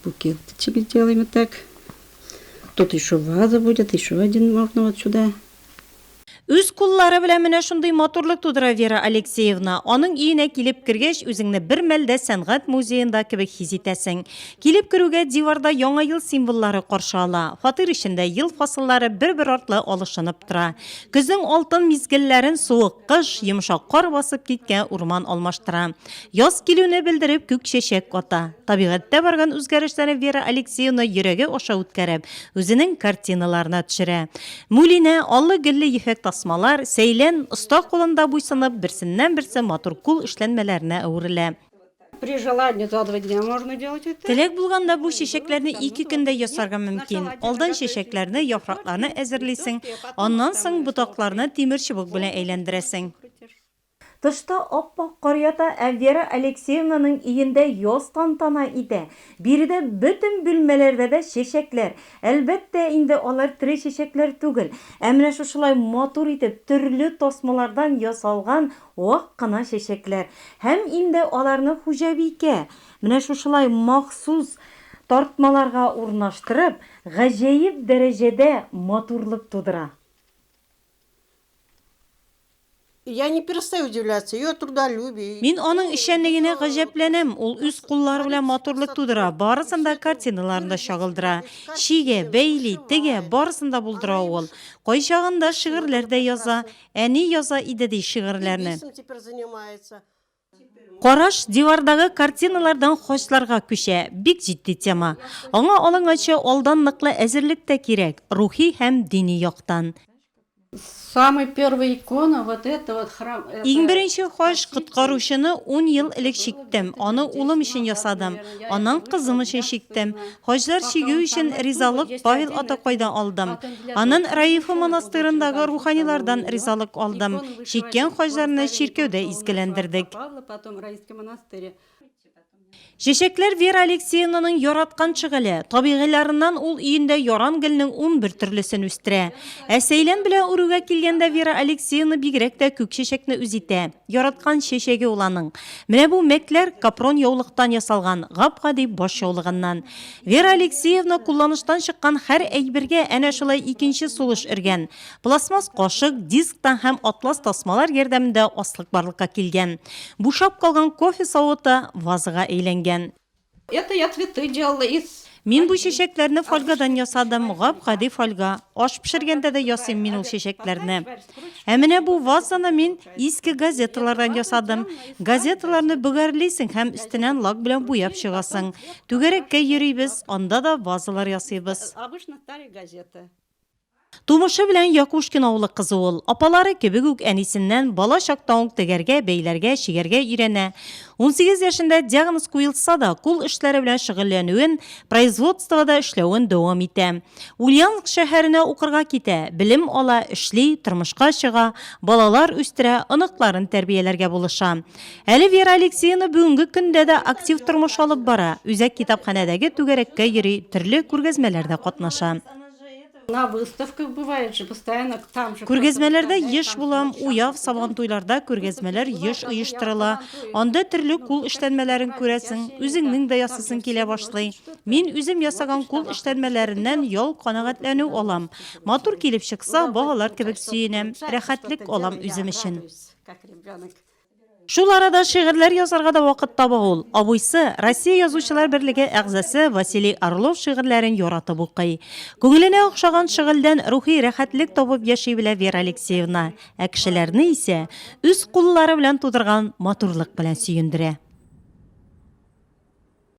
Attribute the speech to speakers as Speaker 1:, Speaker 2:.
Speaker 1: Букетчик сделаем вот так. Тут еще ваза будет, еще один можно вот сюда. Үз
Speaker 2: куллары белән менә шундый матурлык тудыра Вера Алексеевна. Аның өенә килеп кергәч, үзеңне бер мәлдә сәнгать музеенда кебек хис итәсең. Килеп керүгә диварда яңа ел символлары каршы ала. Фатир эчендә ел фасыллары бер-бер артлы алышынып тора. Көзнең алтын мизгелләрен суык кыш, йомшак кар басып киткән урман алмаштыра. Яз килүне белдереп күк чәчәк ата. Табигатьтә барган үзгәрешләрне Вера Алексеевна йөрәге аша үткәреп, үзенең картиналарына төшерә. Мулинә, аллы-гөлле ефәк тасмалар, сәйлән, оста кулында буйсынып, берсеннән-берсе матур кул эшләнмәләренә әверелә. При желании
Speaker 1: за два дня можно делать это. Теләк булганда бу
Speaker 2: чәчәкләрне ике көндә ясарга мөмкин. Алдан чәчәкләрне, яфракларны әзерлисең, аннан соң ботакларны тимер чыбык белән әйләндерәсең. Тышта ап-ак кар ята, ә Вера Алексеевнаның өендә яз тантана итә. Биредә бөтен бүлмәләрдә дә чәчәкләр. Әлбәттә инде, алар тере чәчәкләр түгел, ә менә шушылай матур итеп, төрле тасмалардан ясалган вак кына чәчәкләр. Һәм инде аларны хуҗабикә, менә шушылай махсус тартмаларга урнаштырып, гаҗәеп дәрәҗәдә матурлык тудыра.
Speaker 3: Я не перестаю удивляться ее трудолюбию. Мин аның эшчәнлегенә
Speaker 2: гаҗәпләнәм. Ул үз куллары белән матурлык тудыра, барысын да картиналарында чагылдыра. Чигә, бәйли, тегә, барысын да булдыра ул. Кайчагында шигырьләр дә яза. Әни яза иде ди шигырьләрне. Караш дивардагы картиналардан хачларга күчә. Бик җитди тема. Аңа алынганчы алдан ныклы әзерлек тә кирәк, рухи һәм дини яктан.
Speaker 1: Самый первый икона вот это вот храм это. Иң беренче хач
Speaker 2: коткаручыны ун ел элек чиктем, аны улым өчен ясадым, аннан кызым өчен чиктем. Хаҗлар чигү өчен ризалык Павел атакайдан алдым. Анын Раифы монастырындагы руханилардан ризалык алдым. Чиккән хаҗларны чиркәүдә изгеләндердек. Чәчәкләр Вера Алексеевнаның яраткан шөгыле. Табигыйларыннан ул өендә яран гөлнең унбер төрлесен үстерә. Ә сәйлән белән үрүгә килгәндә Вера Алексеевна бигрәк тә күк чәчәкне үз итә. Яраткан чәчәге ул аның. Менә бу мәкләр капрон яулыктан ясалган гап-гади баш яулыгыннан. Вера Алексеевна кулланыштан чыккан хәр әйбергә әнә шулай икенче сулыш өргән. Пластмасс кашык, дисктан һәм атлас тасмалар ярдәмендә аслык барлыкка килгән. Бушап калган кофе савыты вазага әйләнгән. Это я
Speaker 1: цветы делала из Мин бу чәчәкләрне
Speaker 2: фольгадан ясадым, гап-гади фольга. Аш пешергәндә дә ясыйм мин ул чәчәкләрне. Ә менә бу вазаны мин иске газеталардан ясадым. Газеталарны бөгәрлисең һәм өстенән лак белән буяп чыгасың. Түгәрәккә йөрибез, анда да вазалар ясыйбыз.
Speaker 1: Тумышы
Speaker 2: белән Якушкин авылы кызы ул. Апалары кебек үк әнисеннән бала чактан ук тегәргә, бәйләргә, чигәргә өйрәнә. Унсигез яшендә диагноз куелса да, кул эшләре белән шөгыльләнүен, производствода эшләвен дәвам итә. Ульяновск шәһәренә укырга китә, белем ала, эшли, тормышка чыга, балалар үстерә, оныкларын тәрбияләргә булыша. Әле Вера Алексеевна бүгенге көндә дә актив тормыш алып бара, үзәк китапханәдәге түгәрәккә йөри, төрле күргәзмәләрдә катнаша.
Speaker 1: Күргәзмәләрдә еш
Speaker 2: булам, уяв Сабантуйларда күргәзмәләр еш оештырыла. Анда төрле кул эшләнмәләрен күрәсең, үзеңнең дә ясыйсың килә башлый. Мин үзем ясаган кул эшләнмәләреннән ял канәгатьләнү алам. Матур килеп чыкса, балалар кебек сөенәм, рәхәтлек алам үзем өчен. Шул арада шигырьләр язарга да вакыт таба ул. Абыйсы, Россия Язучылар берлеге әгъзасы Василий Орлов шигырьләрен яратып укый. Күңеленә охшаган шыгыльдән рухи рәхәтлек табып яши белә Вера Алексеевна, ә кешеләрне исә үз куллары белән тудырган матурлык белән сөендерә.